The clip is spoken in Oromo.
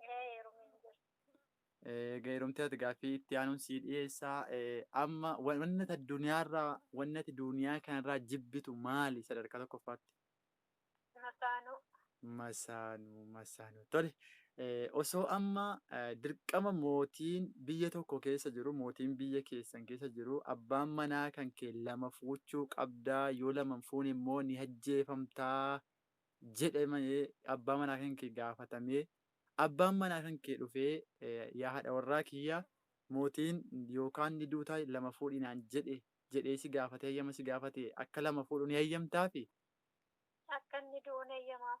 Ee heerumee hin jiru. Eega heerumtee ati gaaffii itti aanuun sii dhiyeessaa. Eh, Amma wa- wanni ati addunyaarraa wanni ati duniyaa kanarraa jibbitu maali sadarkaa tokkoffaatti? Masaanuu. Masaanuu masaanuu tole eh, osoo amma eh, dirqama mootiin biyya tokko keessa jiru mootiin biyya keessan keessa jiru abbaan manaa kan kee lama fuuchuu qabdaa yoo lama hin fuune immoo ni ajjeefamtaa jedhamee abbaa manaa kan kee gaafatamee abbaan manaa kan kee dhufee yaa haadha warraa kiyya mootiin yookaan ni duutaa lama fuudhi naan jedhe jedhee si gaafatee hayyama si gaafate akka lama fuudhu ni hayyamtaafi? Akka inni du'u ni hayyamaaf.